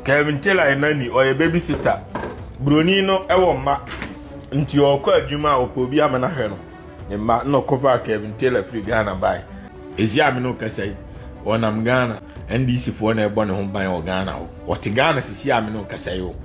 Kevin Taylor yɛ nanny, ɔyɛ babysitter. Buroni no wɔ mma, nti ɔkɔ adwuma a ɔpɛ obi ama no ahwɛ no ne mma na ɔkɔfaa Kevin Taylor firi Ghana bae. Ɛsi a me ne wo kasa yi, ɔnam Ghana NDC foɔ na ɛbɔ ne ho ban wɔ Ghana hɔ. Ɔte Ghana sisi a me ne wo kasa yi o,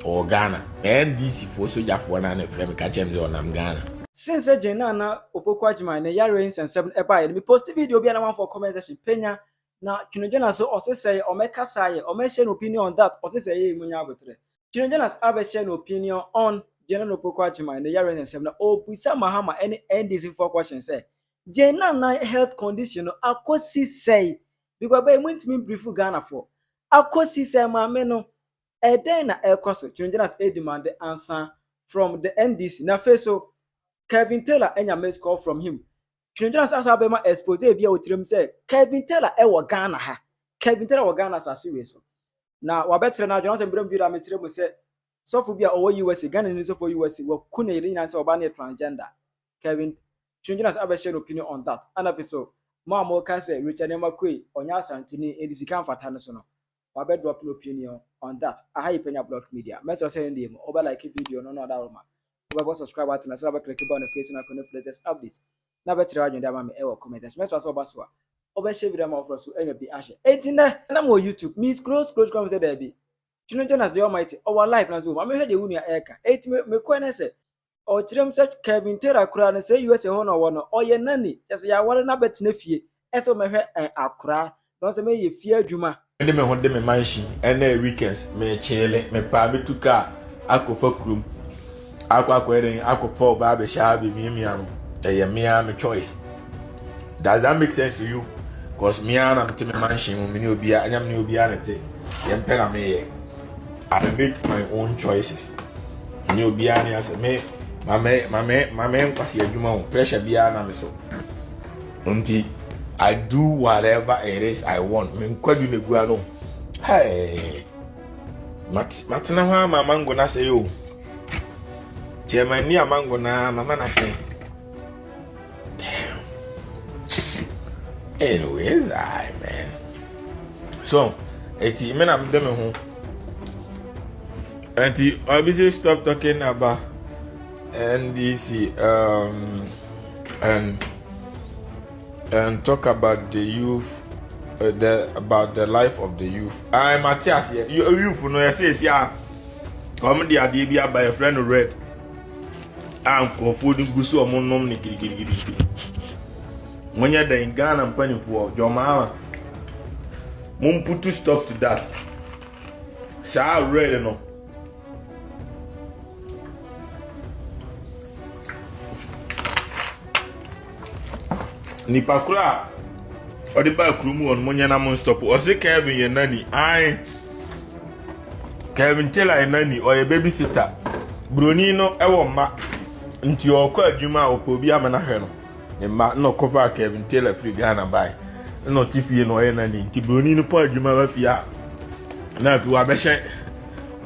ɔwɔ Ghana. NDC foɔ sogyafoɔ no a na ɛfrɛ me ka kyerɛ me sɛ ɔnam Ghana. Since sɛ Jane Nana Opoku Agyemang ne yareɛ yi nsɛnsɛm no baeɛ no, me posti video bi a na manfoɔ comment section panya Na Twene-Jonas so ɔsesɛe ɔmɛkasa yɛ ɔmɛhyɛ no opinion on that ɔsesɛe yɛ mu nyɛ aboterɛ. Twene-Jonas abɛhyɛ no opinion on Jane Opoku-Agyemang ne yare ne nsɛm na ɔrebisa Mahama ɛne NDC foɔ question sɛ Jane Nana health condition no akɔsi sɛe because bɛyɛ mo ntumi mbrifu Ghana foɔ akɔsi sɛe maame no ɛdɛn na ɛrekɔ so Twene-Jonas ɛredemande ansa from the NDC na afei so Kevin Taylor anya missed call from him Dwendwena sɛ asa bɛma expose ebi a wɔ tirim sɛ Kevin Taylor wɔ Ghana ha. Kevin Taylor wɔ Ghana asase wei so. Na wabɛkyerɛ n'adwene asɛ mbrɛ video a mekyerɛ mu sɛ sɔfo bi a ɔwɔ USA, Ghanani sɔfo wɔ USA, waku ne yere nyinaa sɛ ɔbaa no yɛ transgender. Kevin Dwendwena sɛ abɛhyɛ no opinion on that. Ɛna afei so, mo a moka sɛ Richard Nneɛma Quay ɔnyɛ Asanteni enti sika mfata no so no, wabɛ drop n'opinion on that aha yɛ panya block media mɛsrɛ sɛ ɛndeɛ mu wobɛ like video no na ɔdawroma wobɛbɔ subscribe button ɛsɛ na wobɛ click bell notification icon no for latest updates na bɛkyerɛ w'adwene de ama me ɛwɔ comment section mɛsrɛ sɛ ɔba so a wobɛ share video ama wɔforɔ so anya bi ahwɛ enti nɛ nam wɔ youtube me scroll scroll scroll hu sɛ daabi Twino Jonas the Almighty ɔwɔ live na nso wɔ mu amehwɛ deɛ wo nua ɛka enti me mekɔɛ nɛ sɛ ɔkyerɛ mu sɛ Kelvin Taylor koraa no sɛ USA hɔ na ɔwɔ no ɔyɛ nanny kyerɛ sɛ yɛaware no abɛtena fie ɛsɛ ɔmɛhwɛ akoraa na ɔsɛ mɛyɛ fie adwuma. Mede me ho de me mansion ɛna weekends mekyele mepaa metu car akɔ fa kurom akɔ akɔyɛ dɛn akɔ fa ɔbaa bɛhyɛ ha bɛmiamia no ɛyɛ me ara me choice. Does that make sense to you? Cause me ara na mete me mansion mu, me ne obiara, ɛnyɛ me ne obiara na ɛte. Yɛn pɛ na meyɛ. I make my own choices. Me ne obiara ne asɛ me mame mame mame nkwasi adwuma o pressure biara na me so. Nti I do whatever it is I want. Me nkwadu na egua no. Hey. Matena hɔ ama mango na sɛ yo. Chairman ni amango na mama na sɛ. Damn. Anyways, I man. So, eti me na mede me ho. Eti obviously stop talking about NDC um and and talk about the youth uh, the about the life of the youth. I Matthias, yeah, youth no, I say, yeah, come the idea be by a friend red. a nkurɔfoɔ no gu so wɔn nom no gidigidigidi monyɛ dɛn ghana mpanimfoɔ john mahama mumputu stop to that saa red no nipa koro a ɔde baa kurom wɔn monyɛ na mo nstɔpo ɔse kevin yɛ nani ae Kevin Taylor yɛ nani, ɔyɛ babysitter. Buroni no wɔ mma, nti ɔkɔ adwuma a ɔpɛ obi ama no ahwɛ no. Ne mma na ɔkɔfaa Kevin Taylor firi Ghana bae. Na ɔte fie na ɔyɛ nani, nti buroni no pɔ adwuma ba fie a, na afei wabɛhyɛ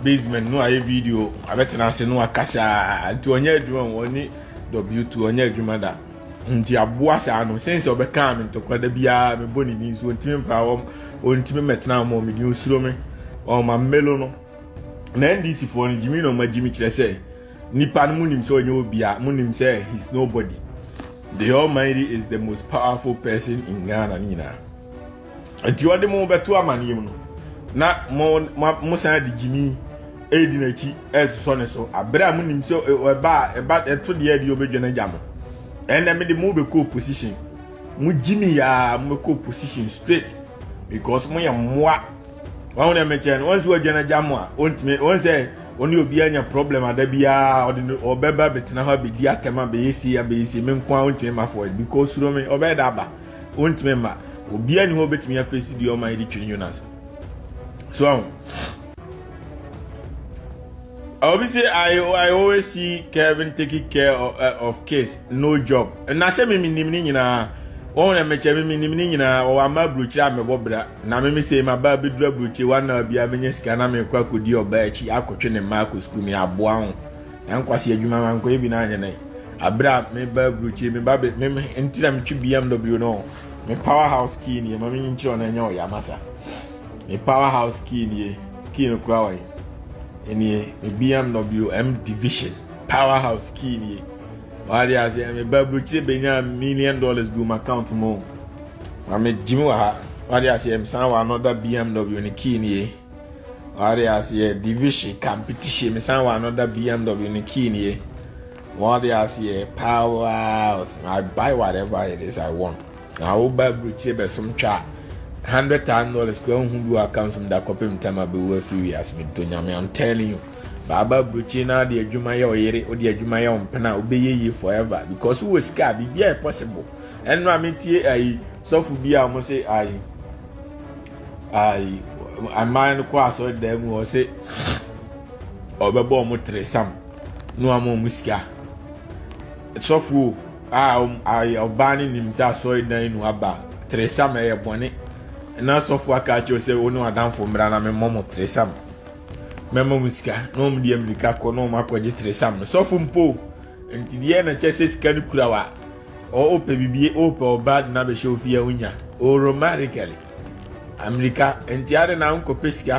basement no ayɛ video, abɛtena ase no akasa, nti ɔnyɛ adwuma, ɔne W2 ɔnyɛ adwuma da. Nti aboa saa no sɛn sɛ ɔbɛkaa me ntɔkwa da biara mebɔ ne din so ɔntumi mfa wɔm ɔntumi mɛtena wɔn me din osuro me ɔma mmelo no na ndc foɔ no gyimi na ɔma gyimi kyerɛ sɛ nipa no munim sɛ ɔnyɛ obia munim sɛ he's nobody the almighty is the most powerful person in Ghana ne nyinaa nti ɔde mo bɛto amanneɛ mu no na mo mo san de gyimi ɛredi n'akyi ɛresosɔ ne so abere a monim sɛ ɛba a ɛba ɛto deɛ ɛde ɔbɛdwa no agya mo ɛnna mede mo bɛkɔ opposition mo gyimi yaa mo bɛkɔ opposition straight because mo yɛ mmoa wɔn na mɛkyɛn wɔn nso adwa no agya mo a wɔntumi wɔn sɛ wɔne obi anya problem ada biara ɔde no ɔbɛba bɛtena hɔ abɛdi atɛm abɛyɛ si abɛyɛ si me nko a ɔntumi ma fɔ because suro me ɔbɛyɛ da aba Ontumi mma. Obiara ni hɔ obetumi afesi deɛ ɔman de twiri Jonas. So ahụ. Obi say I I always see Kevin taking care of, uh, of kids, no job. Na sɛ me menim ne nyinaa. Wɔn na mekyɛ me menim ne nyinaa. Wɔwɔ ama aburokyire a mebɔ bra. Na me me sɛ ma ba abɛduru aburokyire wɔn na bia menya sika na mekɔ akɔdi ɔbaa akyi akɔtwe ne mma akɔ sukuu me aboa ho. Na nkwasi adwuma ma nkɔyɛ bi n'anyɛ nɛ abere a me ba aburukyiri me ba me nti na metwe bmw no me power house key nie ma menyi nkyerɛ ɔno ɛnyɛ ɔyɛ amasa me power house key nie key no kura ɔyɛ ɛnie me bmw m division power house key nie wade ase me ba aburukyiri benya million dollars gu m'account mu ma me gyimi wɔ ha wade ase m san wɔ another bmw ne key nie wɔde ase yɛ division competition mesan wɔ another bmw no key no yɛ wɔde ase yɛ power i buy whatever it is i want na woba aburukyire bɛsom twa hundred thousand dollars kura nhu bi wɔ account mu da kɔpem tam abɛwu afiri wiase medo nyame i'm telling you baaba aburukyire na ɔde adwuma yɛ ɔyere ɔde adwuma yɛ ɔmpena wobɛyɛ yie forever because wowɔ sika a biribiara possible ɛno a metie ayi sɔfo bi a wɔn se ayi ayi aman no kɔ asɔredan mu ɔse ɔbɛbɔ wɔn tiresam na wɔn ama wɔn sika sɔfo a ayi ɔbaa no nim sɛ asɔredan nu aba tiresam ɛyɛ bɔne na sɔfo aka akyerɛ sɛ wɔn ne wadanfo mmra na memmɔ mo tiresam mɛma wɔn sika na wɔn deɛ mmirika kɔ na wɔn akɔgye tiresam no sɔfo mpo nti deɛ na kyɛ sɛ sika no kura wa. O o pɛ bibie o pɛ ɔbaa de no abɛhyɛ wo fie a wonya o romantically amirika nti ade na wonkɔpɛ sika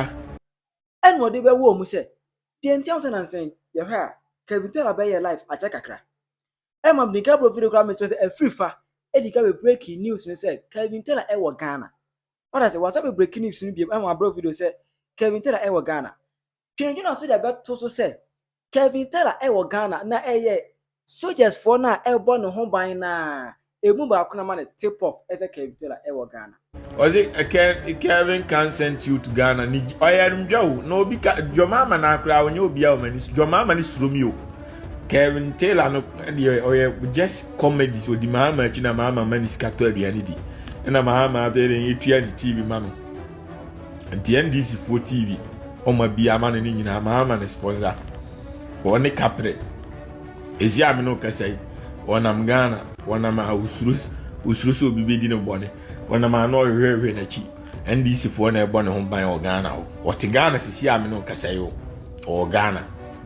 ɛna ɔde bɛwɔ mu sɛ deɛ nti ahosɛ nansɛn yɛhwɛ a kabitala bɛyɛ life akyɛ kakra ɛma bnika bro video koraa mesɛ sɛ afiri fa ɛdi ka bɛ breaking news no sɛ Kevin Taylor ɛwɔ Ghana wada sɛ wasa bɛ breaking news no biam ɛma bro video sɛ Kevin Taylor ɛwɔ Ghana Dwinnwena so de bɛto so sɛ, Kelvin Tara wɔ Ghana na ɛyɛ sogyasfoɔ no a ɛbɔ ne ho ban no a ɛmu baako na ama no tip off sɛ Kelvin Tara wɔ Ghana. Ɔdze Kelvin kan sɛntiot Ghana ne gyi ɔyɛr mdwa o na obi ka dwɔmaama naa koraa ɔnyɛ obiaa ɔma ni dwɔmaama ne suro mi o Kelvin Taylor no deɛ ɔyɛ just comedies odi maama akyi na maama ma ne sika tɔ aduane di ɛna maama abɛrɛ yɛ tua ne TV ma no. nti ndc foɔ tv ɔma bi ama no ne nyinaa maa ama no sponsor wɔne kaprɛ ɛsi a me ne ɔkasa yi wɔnam ghana wɔnam a wosuro wosuro sɛ obi bɛdi ne bɔne wɔnam a na ɔhwehwɛhwɛ n'akyi ndc foɔ na ɛbɔ ne ho ban wɔ ghana hɔ wɔte ghana sisi a me ne ɔkasa yi wɔ ghana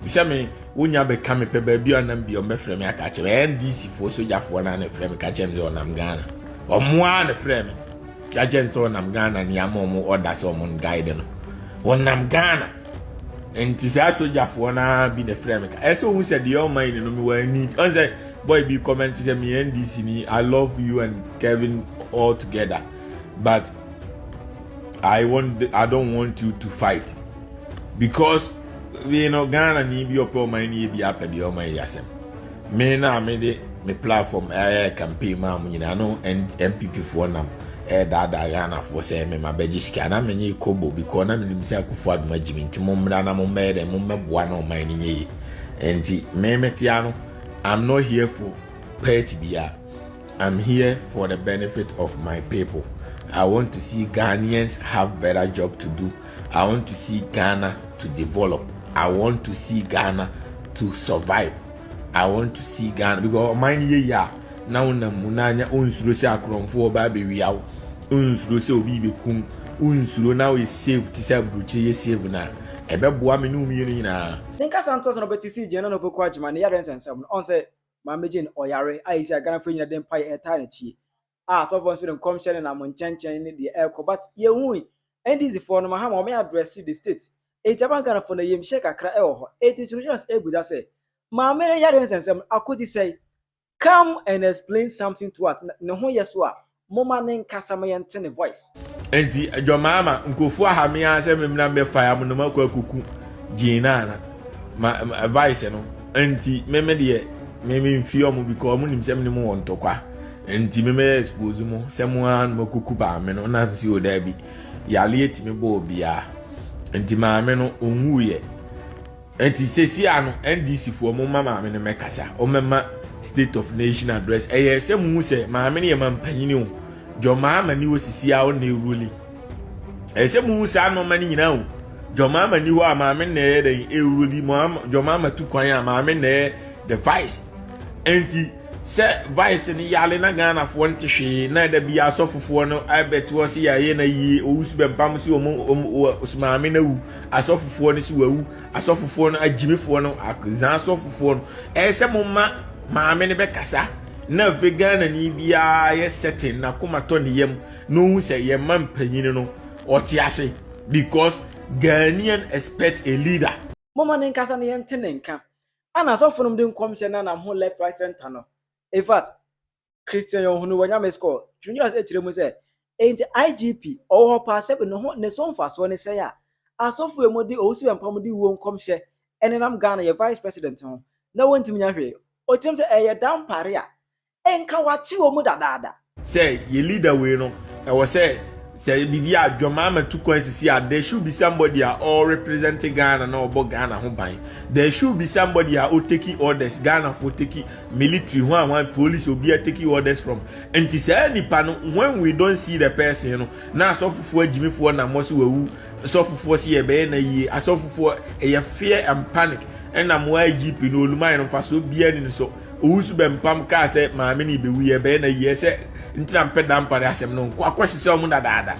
sɛ me wonya bɛka me pɛ baabi a ɔnam bi ɔmbɛfrɛ me aka kyerɛ ndc foɔ sogyafoɔ no a na ɛfrɛ me ka kyerɛ me sɛ ɔnam ghana ɔmmoa na ɛfrɛ me Yɛakyɛ no sɛ ɔnam Ghana ne ama ɔmo ɔda sɛ ɔmo guide no ɔnam Ghana nti saa sogyafoɔ no ara bi na ɛfrɛ me ka ɛsɛ ohun sɛ deɛ ɔma yi ne no mewɔ ani ɔn sɛ boy bi comment sɛ me NDC ni I love you and Kevin all together but I want I don't want you to fight because you know Ghana ni bi ɔpɛ ɔman ni bi apɛ deɛ ɔman yi asɛm. Me no a mede me platform ɛyɛ campaign maa mo nyinaa no NPP foɔ nam ɛredaadaa Ghanafoɔ sɛ me ma bɛgye sika na menye kobo bikɔ na menim sɛ akufo adom agye me nti mommra na mommɛyɛ dɛ mommɛboa na ɔman no nyɛ yi nti me metea no I'm not here for party biara I'm here for the benefit of my people I want to see Ghanaians have better job to do I want to see Ghana to develop. I want to see Ghana to survive. I want to see Ghana because ɔman no yɛ yie a na wonam mu na anya onsuro sɛ akorɔmfoɔ ɔbaa bɛwia wo onsuro sɛ obi bɛkum onsuro na woyɛ save te sɛ aburokyire yɛ save no a ɛbɛboa me ne wo mmienu nyinaa. Ne nkasa ntoaso na ɔbɛte sii Jane Nana Opoku Agyemang ne yareɛ nsɛnsɛm no. Ɔn sɛ Maame Jane ɔyare a ɛsi a Ghanafoɔ nyinaa de mpaeɛ ɛtaa n'akyi yi, a asɔfoɔ nso de nkɔmhyɛ ne nam nkyɛnkyɛn ne deɛ ɛrekɔ but yɛnhui NDC foɔ no mahama wɔn address the state enti ama Ghana foɔ no ayamhyɛ kakra ɛwɔ hɔ enti Tony Jonas ɛbusa sɛ maame no yareɛ nsɛnsɛm no akɔdi sɛe come and explain something to us ne ho yɛ so a moma ne nkasa ma yɛnte ne voice. Enti adwamaa ma nkurɔfoɔ aha me ara sɛ memmra mbɛfa ya mo nom akɔ akɔku gyee no ana ma vice no nti meme deɛ meme mfie ɔmo bikɔ ɔmo nim sɛ me ne mo wɔ ntɔkwa nti meme expose mo sɛ mo ara nom akɔku baame no na msi o daabi yale atumi bɔ obiara nti maame no ɔnwuiɛ Ɛnti sɛsiaa no NDC foɔ mo mma maame no mɛkasa ɔmɛma state of nation address ɛyɛ sɛ mo hu sɛ maame no yɛ mampanyini o John Mahama ni hɔ sisiaa ɔnna ɛruli ɛyɛ sɛ mo hu saa nɔɔma no nyinaa o John Mahama ni hɔ a maame nna ɛyɛ dɛn ɛruli John Mahama tu kwan a maame nna ɛyɛ the vice ɛnti sɛ vice no yale na Ghana foɔ nte hwee na ɛda bi asɔfofoɔ no ɛbɛtoɔ se yɛ ayɛ na yie ɔwusu bɛmpam se ɔmo ɔmo maame no awu asɔfofoɔ no so wawu asɔfofoɔ no agyimifoɔ no zan asɔfofoɔ no ɛyɛ sɛ mo ma maame no bɛkasa na afei ghanani biara yɛ sɛten n'akoma tɔ ne yam na ohun sɛ yɛn ma mpanyin no ɔte ase because ghanaian expect a leader. moma ne nkasa na yɛnte ne nka ana asɔfo nom de nkɔmhyɛ na nam ho left right center no infact Christian Yonhunu wɔ Nyame Score, Twene Jonas kyerɛ mu sɛ, Enti IGP, ɔwɔ hɔ paa sɛbe ne ho ne so mfasoɔ ne sɛn a asɔfo yi wɔde owu sɛ bɛmpam de wuo nkɔmhyɛ nenam Ghana yɛ Vice President ho na wɔntumi nyɛ hwee. Ɔkyerɛ mu sɛ ɛyɛ dampare a nka wɔakye wɔn mu dadaada. Sɛ yɛ leader wei no ɛwɔ sɛ. Sɛ ɛyɛ biribi a Dwamama tu kwan sisi a, there should be somebody a ɔrepresente Ghana na ɔbɔ Ghana ho ban. There should be somebody a oteki orders, Ghanafoɔ teki, military, hwan hwan, police, obiara teki orders from. Nti saa nipa no, when we don't see the person no, na asɔfofoɔ agyimifoɔ nam hɔ se wawu, sɔfofoɔ se yɛbɛyɛ no ayie, asɔfofoɔ, ɛyɛ fear and panic, ɛnam hɔ a IGP no, Olumaye no, mfasoɔ biara nni ne so. Owusu Bempam kaa sɛ maame no bɛwui ɛbɛyɛ na yiɛ sɛ nti na mpɛ dampa ne asɛm no nkɔ akɔ sisɛ ɔmo dadaada.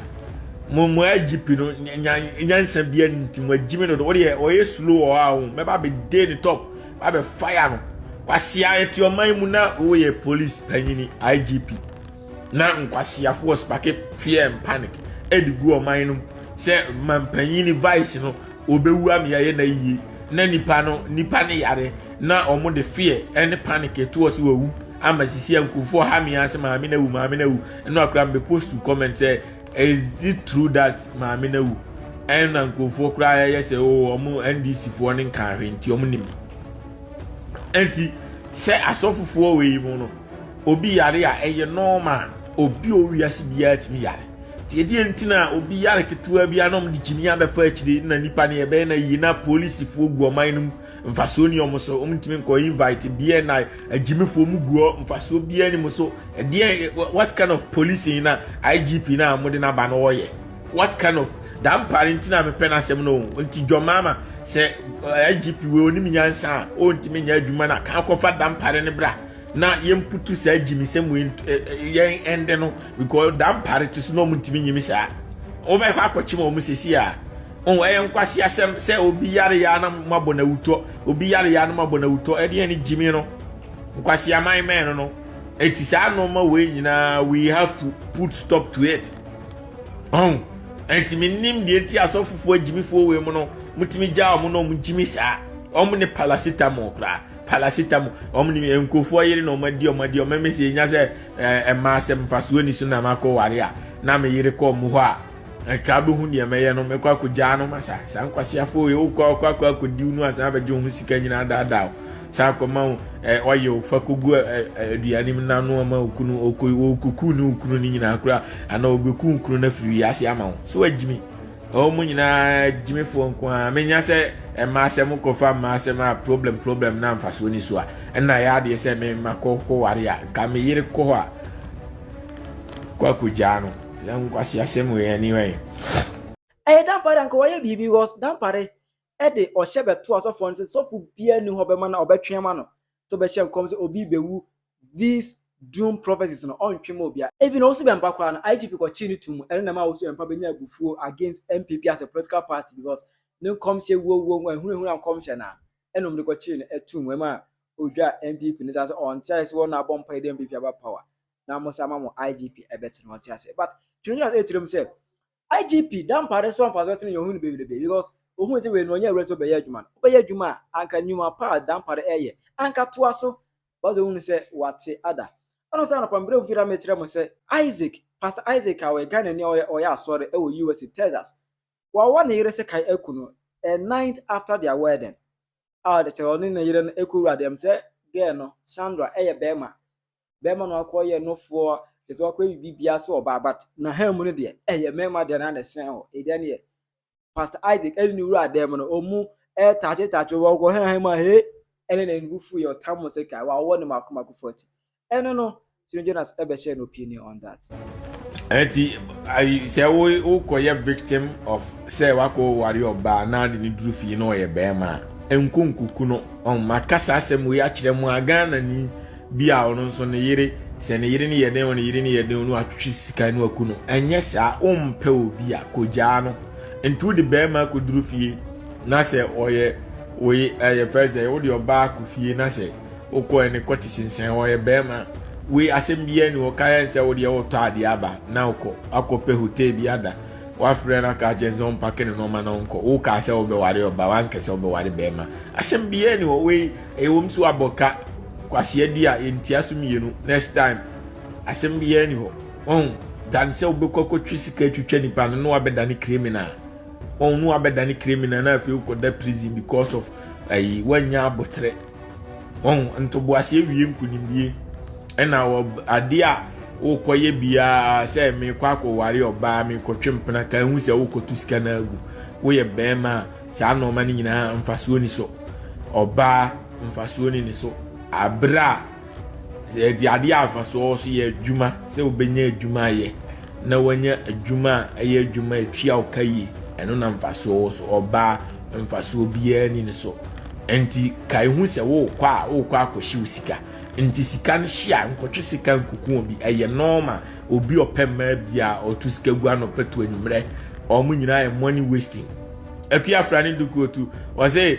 Mo mo IGP no nyansa bia ni nti mo agyimi no do wodeɛ ɔyɛ slow wɔ hɔ a ho mɛba bɛ day ne top ba bɛ fire no. Kwasea yɛte ɔman mu na woyɛ police panyini IGP na nkwasiafoɔ spake fear and panic ɛde gu ɔman no mu sɛ mampanyini vice no wɔbɛwu ama yɛayɛ no ayie na nipa no nipa no yare na wɔn de fear ɛne panic ɛto ɔsi wawu ama sisi nkurɔfoɔ ha mi ase maame na awu maame na awu ɛna akora mbɛ post to comment sɛ is it true that maame na awu ɛna nkurɔfoɔ koraa yɛyɛ sɛ o wɔn ndc foɔ ne nka ahwɛ nti wɔn nim ɛnti sɛ asɔfofoɔ wɔ yi mu no obi yare a ɛyɛ normal obi owi ase biara tumi yare. Tie deɛ nti na obi yare ketewa bi anom de gyimi abɛfa akyire na nipa no yɛbɛyɛ na yie na polisifoɔ gu ɔman no mu mfasoɔ ni ɔmo so ɔmo ntumi nkɔ invite bn na agyimifoɔ mu guɔ mfasoɔ biara ni mu so ɛdeɛ what kind of policing na igp na ɔmo de n'aba no ɔyɛ what kind of da mpa no nti na mepɛ no asɛm no nti dwɔ maama sɛ igp wei onim nyansa a ɔntumi nyɛ adwuma na kan kɔfa da mpa no bra na yɛmputu saa gyimisɛm wei yɛn ɛnde no because da mpare te so na ɔmo ntumi nyimi saa wobɛkɔ akɔkye ma ɔmo sisi a ɔn ɛyɛ nkwasi asɛm sɛ obi yare ya na mo abɔ na wutɔ obi yare ya na mo abɔ na wutɔ ɛdeɛ ne gyimi no nkwasi aman mɛn no no eti saa nneɛma wei nyinaa we have to put stop to it ɔn ɛnti mi nim deɛ ti asɔfofoɔ agyimifoɔ wei mu no mo tumi gya ɔmo na ɔmo gyimi saa ɔmo ne paracetamol koraa Palasitamo wɔn nim nkurɔfoɔ yere na wɔn adi wɔn adi wɔn mesi enya sɛ ɛɛ mmaa sɛ mfasoɔ ni so na makɔ ware a na me yere kɔɔ mu hɔ a nka abɛhu deɛ mɛyɛ no mɛkɔ akɔgyaa no ma saa saa nkwaseafoɔ yɛ wokɔ akɔ akɔ akɔdiw no a san abɛgye wo ho sika nyinaa daadaa wo san akɔma wo ɛɛ ɔyɛ wo fa kɔgu aduane mu na no ama okunu okɔ okɔku ne okunu no nyinaa koraa anaa obɛku okunu no afiri wiase ama wo so agyimi Ɔwɔ mu nyinaa gyimifoɔ nko ara menya sɛ ɛma sɛ mo kɔfa mmaa asɛm a problem problem na mfasoɔ ni so a ɛna yɛ adeɛ sɛ me ma kɔ kɔ ware a nka me yere kɔ hɔ a kɔ akɔgyaa no yɛ nkwasi asɛm wɔ yɛn ani wɛn. Ɛyɛ dampare anka wɔyɛ biribi because dampare de ɔhyɛ bɛto asɔfoɔ no sɛ sɔfo biara ni hɔ bɛma no a ɔbɛtwe ama no sɛ ɔbɛhyɛ nkɔm sɛ obi rebɛwu these doom prophecies no ɔntwe ma obiara. Even ɔwosu bɛmpa koraa no IGP kɔkyee no too mu ɛno na ɛma ɔwosu bɛmpa bɛnya abufuo against NPP as a political party because ne nkɔmhyɛ wuo wuo ho ahunahuna nkɔmhyɛ no ara ɛna wɔn de kɔkyee no ɛtoo mu ɛma ɔdwaa NPP no saa sɛ ɔnte aseɛ sɛ wɔn na abɔ mpaeɛ de NPP aba power na mo nsa ama mo IGP ɛbɛto no ɔnte aseɛ but twenty years ɛtire mu sɛ IGP Dampah de soa mfasoɔ sene nea ɔhunu bebrebe because ɔhunu sɛ wei no ɔnyɛ awura sɛ ɔbɛyɛ adwuma no wobɛyɛ adwuma a anka nnwuma pa a Dampah de ɛyɛ anka toa so basa ɔhunu sɛ wate ada ɛno sɛ anɔpa mbrɛ mfiri a mekyerɛ mo sɛ Isaac Pastor Isaac a ɔyɛ Ghana ni a ɔyɛ ɔyɛ asɔre ɛwɔ USA Texas wawa ne yere sɛ kae aku no a night after their wedding a ɔde kyɛ ɔne ne yere no ɛkɔwura deɛm sɛ girl no Sandra ɛyɛ bɛrima bɛrima no akɔ yɛ nofoɔ kyɛ sɛ wakɔ bibi bia sɛ ɔbaa but na ha mu no deɛ ɛyɛ mmarima deɛ na na ɛsɛn hɔ ɛdeɛ neɛ pastor isaac ɛne ne wura adan mu no ɔmu ɛtaakye taakye wɔ ɔkɔ ha mu a he ɛne na ɛnubu fu yɛ ɔtam sɛ ka wawɔ ne mako mako fɔti ɛno no Tony Jonas ɛbɛhyɛ no opinion on that Ɛti ayi sɛ wo wokɔyɛ victim of sɛ wakɔ wari ɔbaa na de ne duru fie na ɔyɛ bɛrima a nko nkuku no ɔma kasa asɛm wei akyerɛ mu a Ghana ni bi a ɔno nso ne yere sɛ ne yere ne yɛ den ne yere ne yɛ den no atwitwi sika no aku no ɛnyɛ saa ɔmpɛ obi a kogyaa no nti wode bɛrima akɔ duru fie na sɛ ɔyɛ wei ɛyɛ fɛ sɛ wode ɔbaa akɔ fie na sɛ Wokɔ ɛne kɔte sensɛn hɔ yɛ bɛɛma wei asɛm biaa ni hɔ kaɛ nsɛ wo deɛ wotɔ adeɛ aba na wokɔ akɔ pɛ hotel bi ada wafrɛ no aka akyerɛ nsɛ ɔmpake ne nɔɔma na ɔnkɔ wo kaa sɛ wobɛware ɔba wankɛ sɛ wobɛware bɛɛma asɛm biaa ni hɔ wei ɛyɛ wɔm so abɔ ka kwasea di a yɛntia so mmienu next time asɛm biaa ni hɔ ɔn dan sɛ wobɛkɔ akɔtwe sika atwitwa nipa no na wabɛdane criminal ɔn na wabɛdane criminal na afei wokɔda prison because of ayi woanya abotrɛ Wɔn ntoboaseɛ wie nkunimdie ɛna adeɛ a wokɔyɛ biara sɛ mekɔ akɔware ɔbaa mekɔtwe mpena ka hu sɛ wokɔto sika no agu woyɛ bɛrima a saa nnoɔma no nyinaa mfasoɔ ni so ɔbaa mfasoɔ ni ne so aberɛ a Sɛ yɛde adeɛ a mfasoɔ so yɛ adwuma sɛ wobɛnya adwuma ayɛ na wanya adwuma a ɛyɛ adwuma a ɛtua wo ka yie ɛno na mfasoɔ wɔ so ɔbaa mfasoɔ biara ni ne so nti ka ehu sɛ wokɔ a wokɔ akɔhye wo sika nti sika no hye a nkɔtwe sika nkukuo bi ɛyɛ nɔɔma obi ɔpɛ mmaa biara ɔto sika gu anɔpɛ to anwummerɛ wɔn nyinaa yɛ money wasting apia fra ne dukuo tu wɔsɛ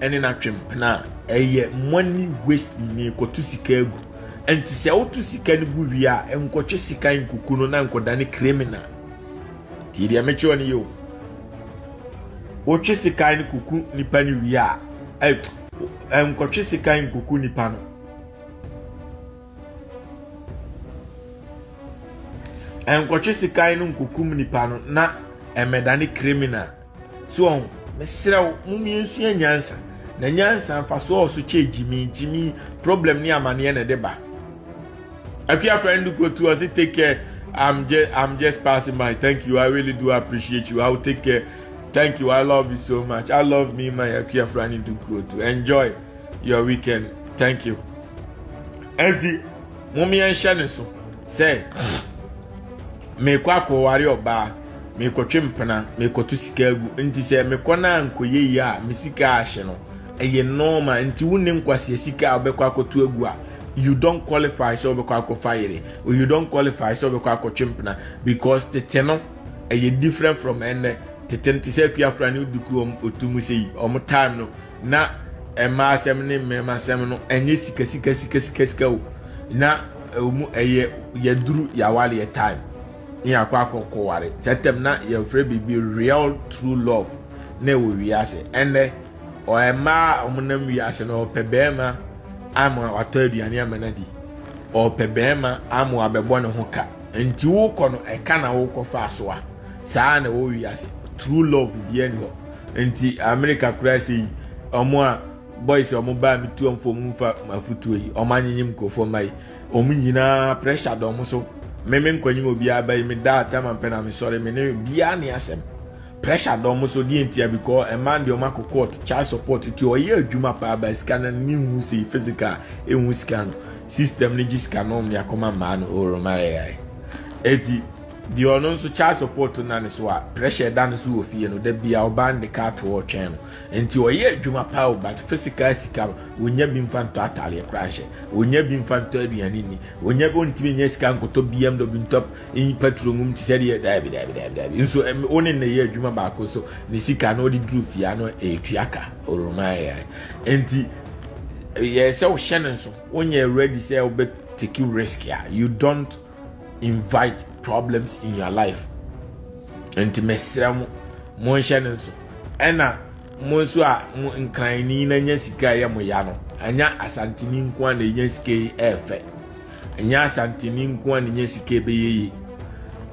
ɛne n'atwempena a ɛyɛ money waste ni kɔto sika agu nti sɛ woto sika no gu wie a nkɔtwe sika nkuku no na nkɔda ne criminal tie deɛ mekyerɛ ɔne yɛ o wotwe sika no kuku nipa no wie a nkɔtwe sika nkuku nipa no nkɔtwe sika no nkukum nipa no na ɛmɛda ne criminal So wɔn? Mesrɛ wo, momie nsua nyansa. Na nyansa mfasoɔ wɔ so kyɛ gyimii gyimii problem ne amaneɛ na ɛde ba. Akua friend do go to us take care. I'm just I'm just passing by. Thank you. I really do appreciate you. I will take care. Thank you. I love you so much. I love me my Akua friend do go to. Enjoy your weekend. Thank you. Enti momie nhyɛ ne so sɛ mekɔ akɔware ɔbaa Merekɔtwe mpena, merekɔto sika agu. Nti sɛ mekɔ na ankɔyɛ yie a, me sika ahye no. Ɛyɛ normal. Nti wonni nkwasea sika a wobɛkɔ akɔto agu a, you don't qualify sɛ wobɛkɔ akɔfa yere. Or you don't qualify sɛ wobɛkɔ akɔtwe mpena. Because tete no, ɛyɛ different from ɛnnɛ. Tete no, te sɛ Akuafra ne Oduku wɔn otu mu sei, wɔn time no, na mmaa asɛm ne mmarima asɛm no, ɛnyɛ sika sika sika sika sika o. Na ɛwɔ mu ɛyɛ yɛaduru yɛawareɛ time. Ne yɛakɔ akɔ kɔware. Sɛ tɛm na yɛfrɛ biribi real true love na ɛwɔ wiase. Ɛnɛ ɔyɛ mmaa a wɔnam wiase no ɔpɛ bɛrima ama watɔ aduane ama no adi. Ɔpɛ bɛrima ama wabɛbɔ ne ho ka. Nti wokɔ no ɛka na wokɔ fa so a. Saa na ɛwɔ wiase. True love bi ani hɔ. Nti Amerika koraa sɛ yi wɔn a boys wɔn baa metuamfoɔ mu mfa mafutuo yi wɔn anyenyem nkurɔfoɔ mma yi Wɔn nyinaa pressure da wɔn so. Me me nkɔnyim obiara bɛyi me da atam ampɛ na me sɔre me ne biara ne asɛm. Pressure da wɔn so deɛ ntia bi kɔ ɛmaa deɛ wɔn akɔ court child support ti ɔyɛ adwuma paa ba sika no ne nhu sei physical ɛnhu sika no system no gye sika no ɔmde akɔma mmaa no oromareyae ɛti deɛ ɔno nso child support na ne so a pressure da no so wɔ fie no da bia ɔbaa no de kaa to ɔtwɛn no Nti ɔyɛ adwuma paa o but physical sika ɔnya bi mfa ntɔ ataadeɛ koraa nhyɛ, ɔnya bi mfa ntɔ aduane nni, ɔnya bi ɔntumi nya sika nkɔtɔ BMW ntɔ nyi patro ngum te sɛ deɛ daabi daabi daabi daabi nso wo ne nnɛyɛ adwuma baako so ne sika no ɔde duru fie ano ɛtua ka ɔroma yɛ nti yɛ sɛ wohyɛ no nso wonyɛ ready sɛ wobɛ take risk a you don't invite problems in your life nti mesrɛ mo monhyɛ no nso ɛna mo nso a mo nkranni na nya sika ɛyɛ mo ya no anya asantini nko a na nya sika yi ɛɛfɛ anya asantini nko a na nya sika ɛbɛyɛ yi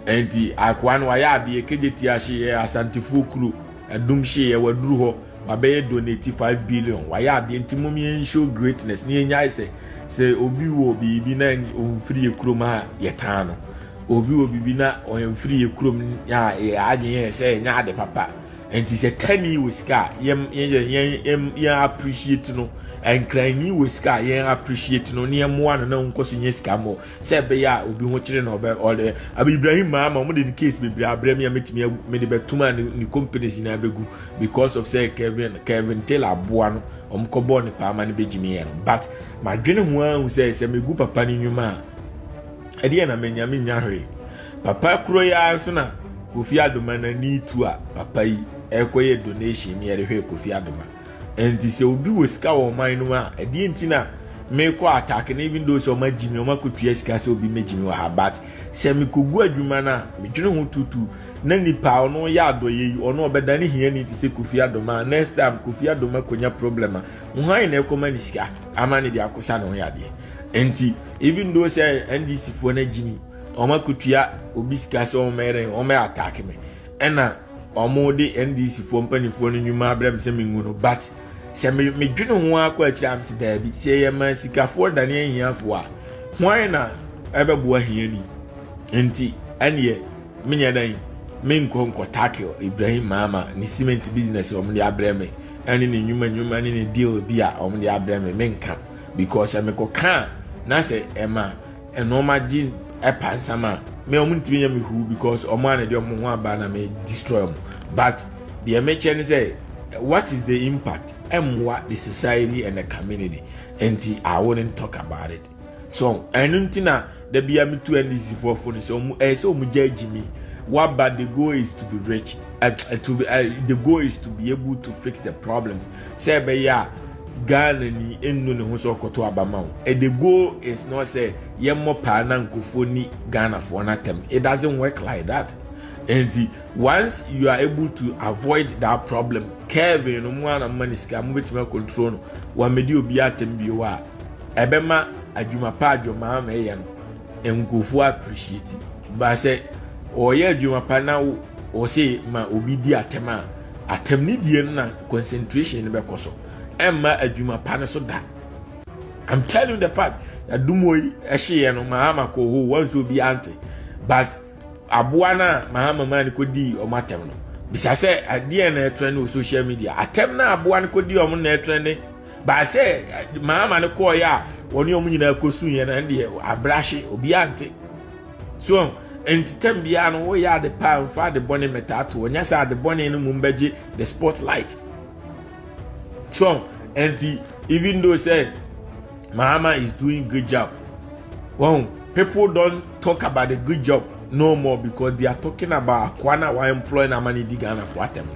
nti akoa no wayɛ adeɛ kegye ti ahyeɛ asantefoɔ kuro ɛdum hyeɛ waduru hɔ wabɛyɛ donate five billion wayɛ adeɛ nti mom yɛn show greatness ne yɛnyae sɛ sɛ obi wɔ biribi na ɔmfiri yɛ kurom a yɛtaa no obi wɔ biribi na ɔmfiri yɛ kurom a yɛ adwene yɛ sɛ ɛnyɛ ade papa nti sɛ tani wɔ sika a yɛn yɛn yɛn appreciate no nkranni wɔ sika a yɛn appreciate no ne yɛn mmoa no na nkɔ so nyɛ sika mmɔ sɛ ɛbɛyɛ a obi ho kyere na ɔbɛ ɔde abi ibrahim maama wɔn de ne case bebree abrɛ mi a metumi agu mede bɛtum a ne ne companies nyinaa bɛgu because of sɛ kevin kevin taylor aboa no wɔn kɔ bɔɔ ne paama no bɛgyimi yɛ no but madwene ho ara hu sɛ sɛ megu papa ne nnwuma a ɛdeɛ na menya menya hwee papa kuro yi ara so na kofi adoma n'ani tu a papa yi ɛkɔyɛ donation ne yɛde hwɛ kofi adoma Ɛnti sɛ obi wɔ sika wɔ ɔman no mu a, ɛdeɛ nti na mekɔ attack no even though sɛ ɔma gyi me, ɔma kɔtua sika sɛ obi mɛgyi me wɔ ha but sɛ mekɔgu adwuma no a, medwene ho tutu na nipa a ɔno yɛ adɔyɛ yi, ɔno ɔbɛda ne hiani te sɛ Kofi Adoma a next time Kofi Adoma kɔnya problem a, hwan na ɛkɔma ne sika ama ne de akɔsa ne ho yadeɛ? Ɛnti even though sɛ NDC foɔ no agyi me, ɔma kɔtua obi sika sɛ ɔmɛrɛ, ɔmɛ attack me, ɛna ɔmo de ndc foɔ mpanimfoɔ no nnwuma abrɛ me sɛ mengu no but sɛ medwene ho ara kɔ akyire a mese daabi sɛ yɛyɛ ma sikafoɔ dane ahiafoɔ a hwan na ɛbɛboa hiani nti ɛneɛ menyɛ dɛn menkɔ nkɔ tackle Ibrahim Maama ne cement business a wɔde abrɛ me ɛne ne nnwuma nnwuma ne ne deal bi a wɔde abrɛ me menka because sɛ mekɔka a na sɛ ɛma Ɛna ɔmo agye ɛpa nsam a me ɔmo ntumi nyɛ me huu because ɔmo a na ɛde ɔmo ho aba na me destroy ɔmo but deɛ me kyɛ ne sɛ what is the impact ɛmmoa the society and the community nti I wouldn't talk about it so ɛno nti na da bia me tu NDC foɔ fo ne sɛ ɔmo ɛyɛ sɛ ɔmo gya agyi mi waba the goal is to be rich uh, to be, uh, the goal is to be able to fix the problems sɛ ɛbɛyɛ a Ghana ni nnu ne ho sɛ ɔkɔto aba ma wo. The goal is not sɛ yɛmmɔ paa na nkurɔfoɔ ni Ghanafoɔ no atɛm. It doesn't work like that. Nti once you are able to avoid that problem, Kevin no mu ana mma ne sika mo betumi akontrol no wɔamedi obi atɛm bio a ɛbɛma adwuma pa adwuma ama ɛyɛ no. nkurɔfoɔ appreciate ba sɛ ɔyɛ adwuma pa na ɔse ma obi di atɛm a atɛm ne die no na concentration no bɛkɔ so ɛmma adwuma pa no so da i'm telling you the fact adumo yi ɛhyeeɛ no mahama kɔ hɔ wɔn nso obi ante but aboa no a mahama maa no kɔdii ɔmo atɛm no bisa sɛ adeɛ na ɛtrɛ ne social media atɛm na aboa no kɔdii ɔmo na ɛtrɛ ne baa sɛ maama no kɔɔeɛ a wɔne wɔn nyinaa kɔsuiɛ no ɛndeɛ abrahye obiara nte so ntetɛm biara no woyɛ ade paa mfa ade bɔne mmɛtaa to ɔnyɛ sɛ ade bɔne no mu mbɛgye the spotlight so ɛnti even though sɛ maama is doing good job wɔn people don talk about the good job no more because they are talking about akoa na wa employ na ama ne di ghana fo atɛm no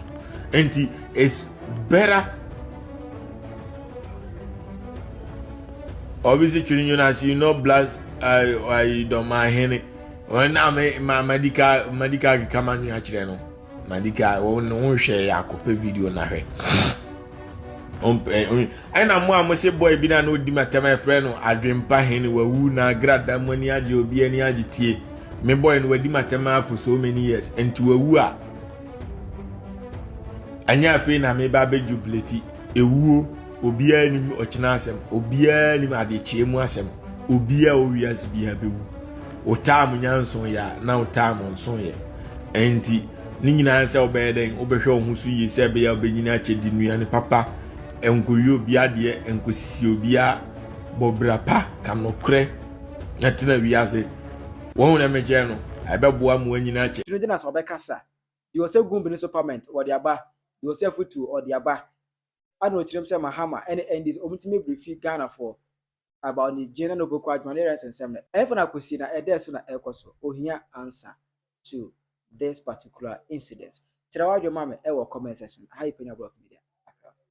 nti it's better. obi si twene nwunu ase you know blast ayi ayi dɔmma ahene wɔn na me ma madika madika keka ma nwi akyerɛ no madika wɔn ne ho nhwɛ yɛ akɔpɛ video na hwɛ ɛna mo a mo se boy bi na na odi ma tɛm ɛfrɛ no adwempa hene wawu na agrada mo ani agye obi ani agye tie me boy no wadi ma tɛm afo so many years nti wawu a. ɛnyɛ afei na meba abɛjubileti ewuo obiara nim ɔkyena asɛm obiara nim adekyeɛ mu asɛm obiara wɔ wiase biara bɛwu wotaa mo nyanso yɛ a na wotaa mo nso yɛ ɛnti ne nyinaa sɛ wobɛyɛ dɛn wobɛhwɛ wo ho so yie sɛ ɛbɛyɛ wobɛnyini akyɛ di nnuane papa nkɔwie obi adeɛ nkɔsisi obiara bɔ bra pa ka nokorɛ na tena wiase Wɔn na megyɛɛ no, ɛbɛboa mmoa nyinaa kyɛ. Tiri dena so ɔbɛkasa, deɛ ɔsɛ gum bene so pament ɔde aba, deɛ ɔsɛ afutuo ɔde aba, ana ɔtirim sɛ Mahama ne NDC ɔmo tumi brifi Ghana foɔ about ne gyen na noboko adwuma ne rest nsɛm no, ɛhefa na akosi na ɛdɛɛ so na ɛkɔ so, ohia answer to this particular incidence, kyerɛ w'adwene ma me ɛwɔ comment section, aha yɛ Penya Block Media, Accra.